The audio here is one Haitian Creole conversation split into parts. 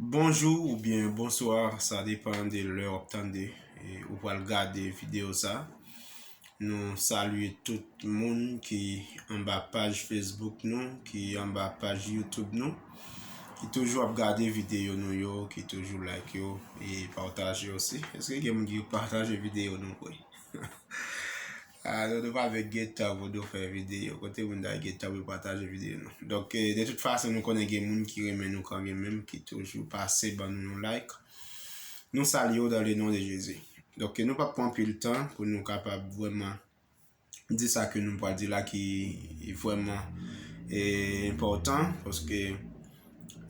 Bonjou ou byen bonswa sa depan de lè wap tande ou pral gade video sa Nou salye tout moun ki anba paj Facebook nou ki anba paj YouTube nou ki toujou ap gade video nou yo ki toujou like yo e pataje osi eske gen moun ki pataje video nou vre Ahh dodo pa vle gentan pou do fè video kote moun ta gentan pou yo pataje video nou donk de tout fason nou konnen gen moun ki renmen nou kange menm ki toujou pase ban nou yon like nou salye w dan le non de jezi donk nou pap pran pil tan pou nou kapab vweman di sa ke nou pral di la ki vweman enpòtan paske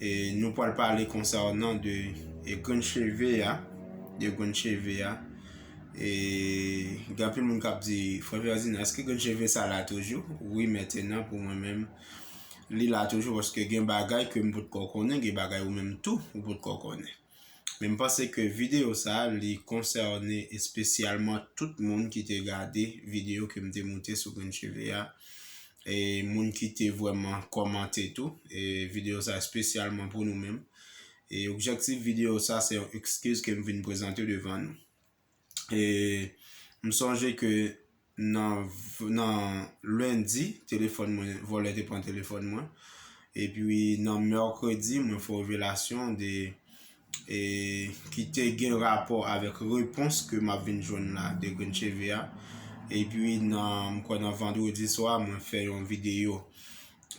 E nou pral pale konsa ou nan de e grenn cheve a, de grenn cheve a. E gen pil moun kap di, Frè Ferdinand, eske grenn cheve sa la toujou? Wi, mètenan pou mwen menm, li la toujou, paske gen bagay ke m pot kò konnen, gen bagay ou menm tou, ou pot kò konnen. Men m panse ke videyo sa li konsène espesyalman tout moun ki te gade videyo ke m te moute sou grenn cheve a e moun ki te vrèman kòmante tou e videyo sa espesyalman pou nou menm e objektif videyo sa se yon ekskiz ke m vin prezante devan nou. e m sonje ke nan nan lendi telefòn mwen vòlè te pran telefòn mwen epi nan mèkredi mwen fè revelasyon de e ki te gen rapò avèk repons ke m ap vin jwenn la de grenn cheve a epi nan m kwè nan vandredi swa mwen fè yon videyo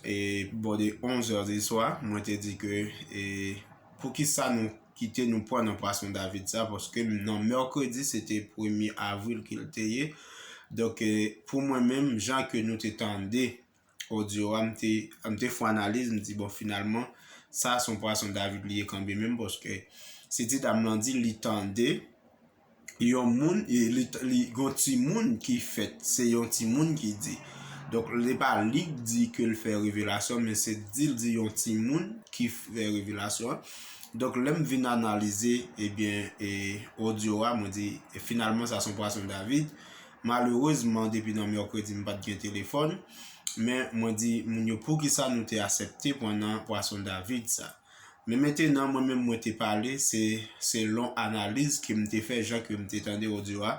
e bò de 11 zè di swa, mwen te di ke e pou ki sa nou kite nou pran nan pwason David sa, paske nan mèkredi se te premye avril ke l te ye, donk e pou mwen menm jan ke nou te tande odyo a, m te m te fon analiz, m di bon finalman sa son pwason David li ye kanbe menm, paske se ti dam lan di li tande. yon moun, li gen yon timoun ki fèt, se yon timoun ki di. Donk, se pa li ki di ke l fè revelasyon, men se di l di yon timoun ki fè revelasyon an. Donk, lè m vin analize, ebyen, e odyo a, mwen di, e finalman sa son pwason David. Malerezman, depi nan mèkredi m pa t gen telefòn, men mwen di moun yo poukisa nou te asepte pran nan pwason David sa. Men mentenan mwen menm mwen te pale se selon analiz ke m te fè jan ke m te tande odyo a,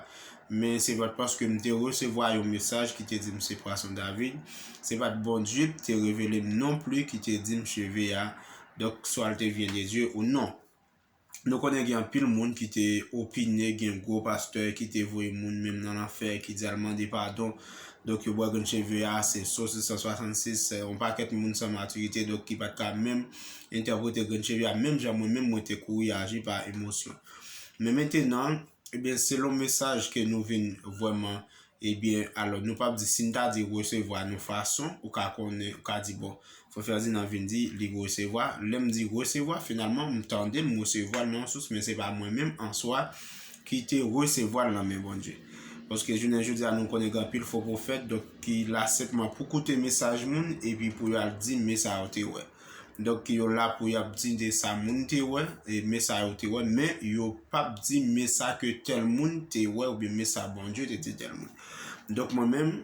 men se pat paske m te resevwa yon mesaj ki te di m se pwason David, se pat Bondye ki te revele m non pli ki te di m cheve a, donk swa l te vyen de Dye ou non. Nou konnen gen anpil moun ki te opine gen gwo pastè ki te voye moun menm nan lanfè ki di al mande padon donk yo bwè grenn cheve a se sos 266 se yon pakèt moun san matirite donk ki pat ka menm entèprete grenn cheve a menm jan mwen menm mwen te kouri aji pa emosyon men mentenan ebyen selon mesaj ke nou vin vwèman Ebyen, alò nou pap di, si n ta di resevwa nou fason, ou ka konnen, ou ka di bon, frè Ferdinand vin di li resevwa, lè m di resevwa, finalman m tande m resevwa l nan yon sous, men se pa mwen menm an swa ki te resevwa l nan men Bondye. Paske jounen jodi a nou konnen gen anpil fo pwofèt, donk ki la senpman pou koute mesaj moun epi pou yo al di men sa yo te wè. Donk yo la pou y ap di de sa moun te wè, e men sa yo te wè, men yo p ap di men sa ke tèl moun te wè oubyen men sa Bondye te di tèl moun. Donk mwen menm,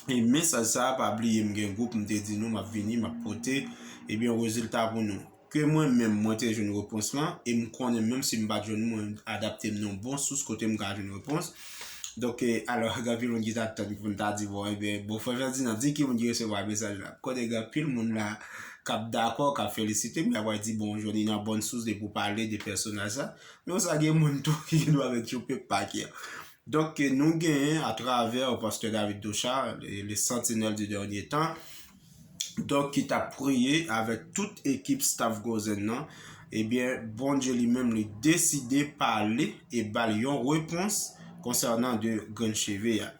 e mesaj sa a pa bliye m gen gwoup m te di nou m ap vini m ap pote ebyen rezilta pou nou. Ke mwen menm mwen te jwenn repons lan e m konnen menm si m pa t jwenn li mwen adapte m nan bon sous kote m ka jwenn repons. Donk, alò, gen anpil moun ki t ap tann pou n ta di, bon, enben, bon, frè Fèdinan, di ki moun ki resevwa mesaj la. M konnen gen anpil moun la k ap dakò, k ap felisite m, y ap pral di, bon, jwenn Inan Bòn Sous depi w pale de pèsonaj sa. Men konsa gen moun tou ki gendwa mèt yon pe pake. Donk, nou genyen atravè Pastè David Dochard, Le Sentinelle du Dernier Temps, donk ki tap priye avèk tout ekip staf Gozen nan, ebyen Bondye li menm li deside pale e bal yon repons konsènan de grenn cheve a.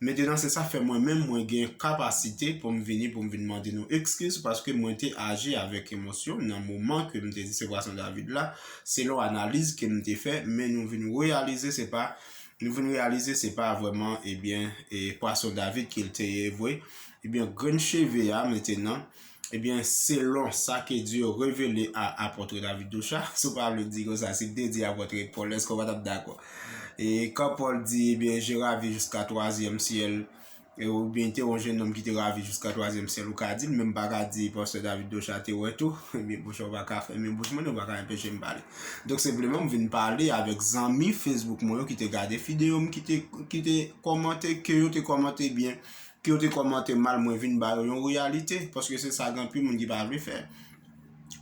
Mentenan se sa fè mwen menm mwen gen kapasite pou m vini pou m vin mande nou ekskiz paske mwen te aji avèk emosyon nan moman ke m te di se Bwason David la selon analiz ke m te fè men nou vin reyalize se pa nou vin reyalize se pa vwèman ebyen e Pwason David ke l te ye vwe Ebyen grenn cheve a metenan ebyen selon sa ke Dye revele a Apôtre David Duchat, si w pa vle di konsa, si w te di Apôtre Paul èske w pa tap dakò? E kan Paul di ebyen je ravi jiska twazyèm syèl ebyen te yon jenòm ki te ravi jiska twazyèm syèl ou ka di l men m pa ka di Pastè David Duchat te wè tou ebyen monchè w pa ka fèmen bouch mwen e w pa ka enpeche m pale. Donk senpleman m vin pale avèk zanmi Facebook mwen yo ki te gade fideo m ki te kòmante ke yo te kòmante ebyen Ke yo te kòmante mal mwen vin ba yo yon reyalite paske se sa gen anpil moun ki pa vle fè.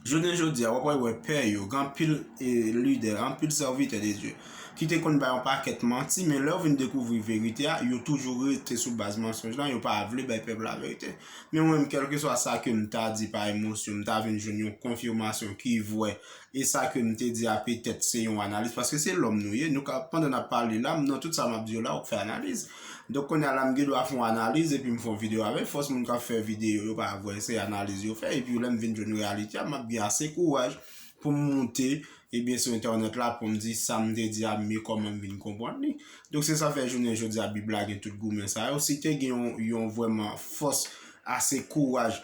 Jounen jodi a wap wè wè pè yo, gen anpil lidè, anpil sèvitè de Dye ki te konn bay yon pakèt manti men lè yo vin dekouvri verite a yo toujou rete sou baz mansonj lan yo pa vle bay pèp la verite. Men mwen menm kèlkeswa sa kem ta di pa emosyon m ta vin jwenn yon konfimasyon ki vwè E sa ke m te di a petèt se yon analiz, paske se lòm nou ye, nou ka, pandan n ap pale la, m nan tout sa m ap di yo la, ou k fè analiz. Donk kounye a la m gen dwa fè yon analiz epi m fè yon videyo avè l, fòs moun k ap fè videyo yo pa vre, se analiz yo fè, epi lè m vin jwenn reyalite a, m ap gen ase kouraj pou m moute, ebyen sou entènèt la pou m di sa m te di a m gen kòman m vin konprann li. Donk se sa fè jounen jodi a Bib la gen tout goumen sa yo, si te gen yon vrèman fòs ase kouraj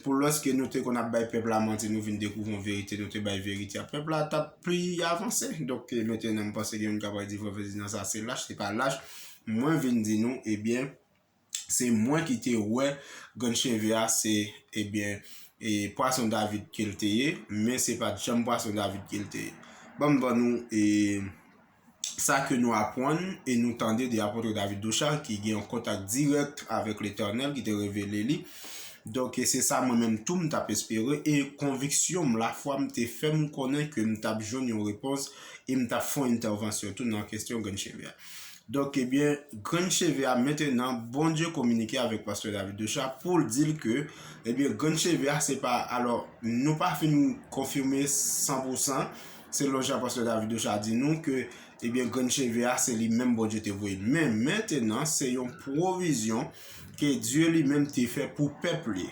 Pou lòs ke nou te konn ap bay pèp la manti nou vin dekouvri yon verite nou te bay verite a pèp la tap pi avanse donk ke mete nan panse gen moun kap pral di vre prezidan sa se lach se pa lach mwen vin di nou ebyen se mwen ki te wè grenn cheve a se ebyen e pwason david kel te ye men se pat janm pwason david kel te ye banm ban nou e sa ke nou apwann e nou tande de Apotre David Ducharge ki gen yon kontak dirèk avèk Letènèl ki te revele li. Donk e se sa mwen menm tou m tap espere e konviksyon m, lafwa m te fè m konnen ke m tap jwenn yon repons e m tap fè yon entèvansyon tou nan kestyon grenn cheve a. Donk ebyen grenn cheve a mentenan Bondye kominike avèk Pastè David Ducharge pou l di l ke ebyen grenn cheve a se pa alò nou pa fin konfime san pou san Selon jan Pastè David Docha di nou ke ebyen grenn cheve a se li menm Bondye te voye. Men, mentenan se yon pwovizyon ke Dye li menm te fè pou pèp li.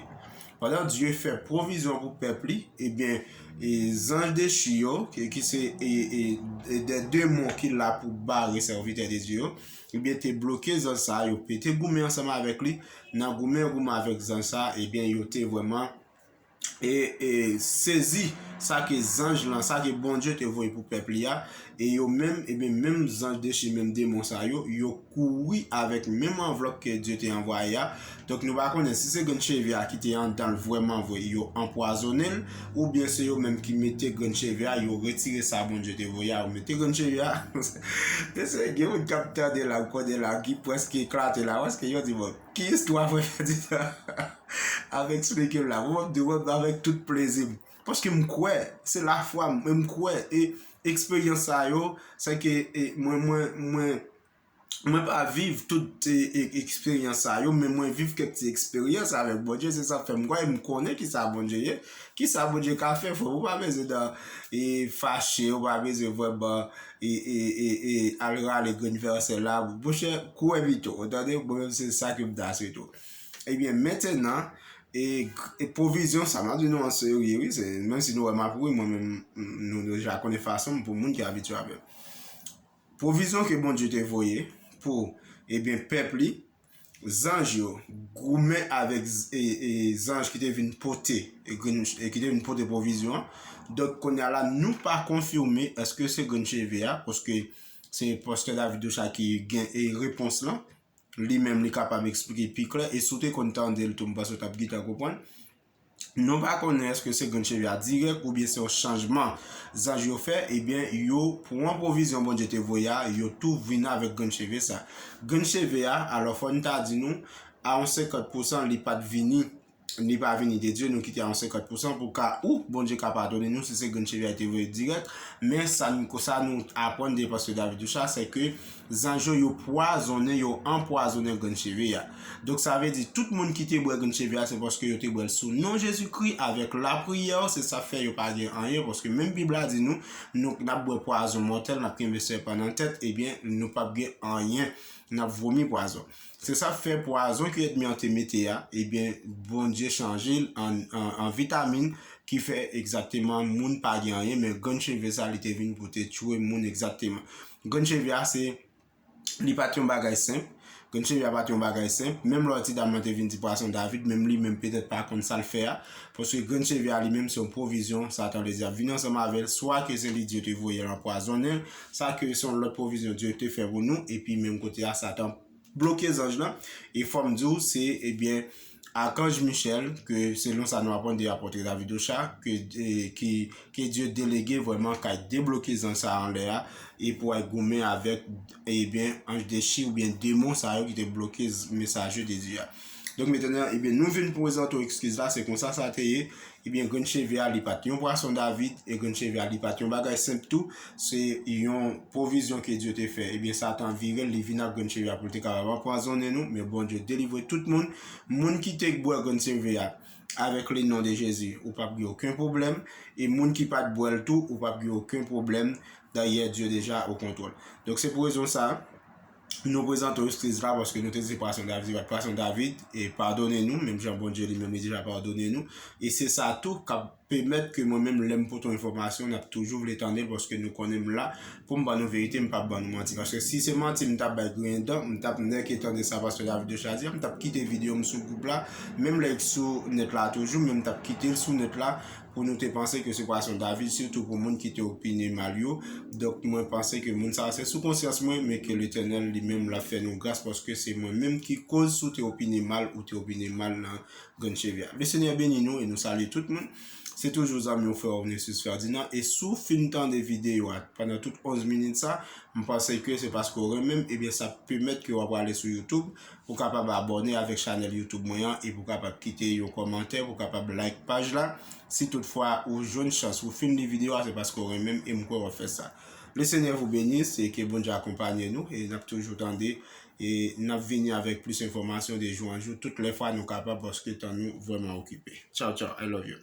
Pandan Dye fè pwovizyon pou pèp li, ebyen zanj dechi yo, ki se de demon ki la pou bare sèvitè de Dye yo, ebyen te bloke zanj sa yo, yo te goumen ansanm avèk li, nan goumen yo goumen avèk zanj sa, ebyen yo te vrèman. e sezi sa ke zanj lan, sa ke Bondye te voye pou pèp li a, e yo menm, eben menm zanj dechi, menm demon sa yo, yo kouri avèk menm anvlòp ke Dye te anvwaye a, donk nou pa konnen si se grenn cheve a ki te andan l vrèman vre, yo anpwazonnen l, oubyen se yo menm ki mete grenn cheve a, yo retire sa Bondye te voye a, yo mete grenn cheve a, mesye gen moun kap tande la, m konnen la, ki preske eklate la, paske yo di bon. Ki istwa mwen fè di sa avèk esplike m la mwen ap di wèm avèk tout plezi m paske m kwè se lafwa m e m kwè e eksperyans sa yo se ke mwen mwen mwen mwen pa viv tout eksperyans sa yo men mwen viv kèk ti eksperyans avèk Bondye se sa k fè m kwè e m konnen ki sa Bondye ye ki sa Bondye ka fè frè m ou pa bezwen fache ou pa bezwen vrèman E e e e al rale grenn vèsè la monchè kouwè pito ou tande mwen menm se sa ke m ta swete w ebyen mentenan e e pwovizyon sa map di nou an serye wi se menm si nou wè map ri mwen menm nou deja konnen fason m pou moun ki abitye avè m pwovizyon ke Bondye te voye pou ebyen pèp li Zanj yo goumen avèk zanj ki te vin pote ki te vin pote pwovizyon an. Donk konya la nou pa konfime eske se grenn cheve a paske se pastè David Docha ki gen e repons lan. Li menm li kapab eksplike pi klè e si w te konn tande l tou m panse w t ap pi ta konprann. Nou pa konnen eske se grenn cheve a dirèk oubyen se yon chanjman zanj yo fè, ebyen yo pran pwovizyon Bondye te voye a, yo tou vin avèk grenn cheve sa. Grenn cheve a, alò fò n ta di nou, a yon senkant pousan li pa t vini, li pa vini de Dye, nou kite a yon senkant pousan pou ka ou Bondye ka padone nou si se grenn cheve a li te voye dirèk, men sa nou aprann de Pastè David Richard sè ke Zanj yo yo pwazonnen, yo anpwazonnen grenn cheve a. Donk sa vle di tout moun ki te bwè grenn cheve a se paske yo te bwè l sou non Jezikri avèk lapriyè, se sa k fè yo pa gen anyen paske menm Bib la di nou, nou n ap bwè pwazon mòtèl, n ap kenbe sèpan nan tèt, ebyen nou pap gen anyen, n ap vomi pwazon. Se sa k fè pwazon ke èdmi an te mete a, ebyen Bondye chanje l an vitamin ki fè egzakteman moun pa gen anyen men grenn cheve sa li te vin pou te tchwe moun egzakteman. Grenn cheve a se Li pa t yon bagay senp Grenn cheve a pa t yon bagay senp Menm lò ti dam lan te vin di pwason David menm li menm petèt pa konn sa l fè a Paske grenn cheve a li menm se yon pwovizyon Satan Ledyab vini ansanm avè l Swa ke se li Dye te voye l anpwazonnen l Sa ke se yon lòt pwovizyon Dye te fè pou nou Epi menm kote a Satan bloke zanj lan e fòm di w se ebyen Archange Michel ke selon sa nou aprann de Apôtre David Ocha ke Dye delege vrèman kay debloke zanj sa anlè a e pou al goumen avèk ebyen anj dechi oubyen demon sa yo ki te bloke mesaje de Dye a. Donk metane an, ebyen nou vin prezante w ekskiz la, se konsa sa te ye, ebyen grenn cheve a li pa t yon pwason David, e grenn cheve a li pa t yon bagay senp tou, se yon pwovizyon ke Dye te fè. Ebyen Satan vire l, li vin ak grenn cheve a pou l te kapab anpwazonnen nou, men Bondye delivre tout moun. Moun ki te bwè grenn cheve a, avèk le non de Jezi, ou p ap gen oken pwoblèm, e moun ki pa t bwè l tou, ou p ap gen oken pwoblèm, dayè Dye deja o kontwòl. Donk se pou rezon sa. Nou prezante w eskiz la paske nou te di pwason David bat pwason David e padone nou menm jan Bondye li menm li deja padone nou e se sa tou kap pèmèt ke mwen menm lèm pote yon enfòmasyon nap toujou vle tande l paske nou konnen m la pou m ban nou verite m pap ban nou manti paske si se manti m tap bay griyen dan m tap nèke tande sa pastè David deja di a m tap kite videyo m sou gwoup la menm lè l t sou nèt la toujou men m tap kite l sou nèt la pou nou te panse ke se pwason David sitou pou moun ki te opine mal yo donk mwen panse ke moun sa se sou konsyans mwen men ke Letènèl li menm la fè nou gras paske se mwen menm ki koz si w te opine mal ou te opine mal nan Grann Cheve a. Le Senyè beni nou e nou salye tout moun. Se toujou zanmi w frè w Nestus Ferdinand e si w fin tande videyo a pandan tout 11 minit sa m panse ke se paske w renmen m ebyen sa pèmèt ke w ap ale sou YouTube Ou kapab abòne avèk chanèl youtube mwen an epi ou kapab kite yon kòmantè, ou kapab like paj la. Si tout fwa ou jwenn chans ou fin li video a se paske ou renmenm e m kwè wap fè sa. Le Seigneur vous benisse et ke Bondye akonpanye nou e nap toujou tande e nap vini avèk plis enfòmasyon de jou an jou tout lè fwa nou kapab paske tan nou vrèman okipe. Tchaw tchaw I love you.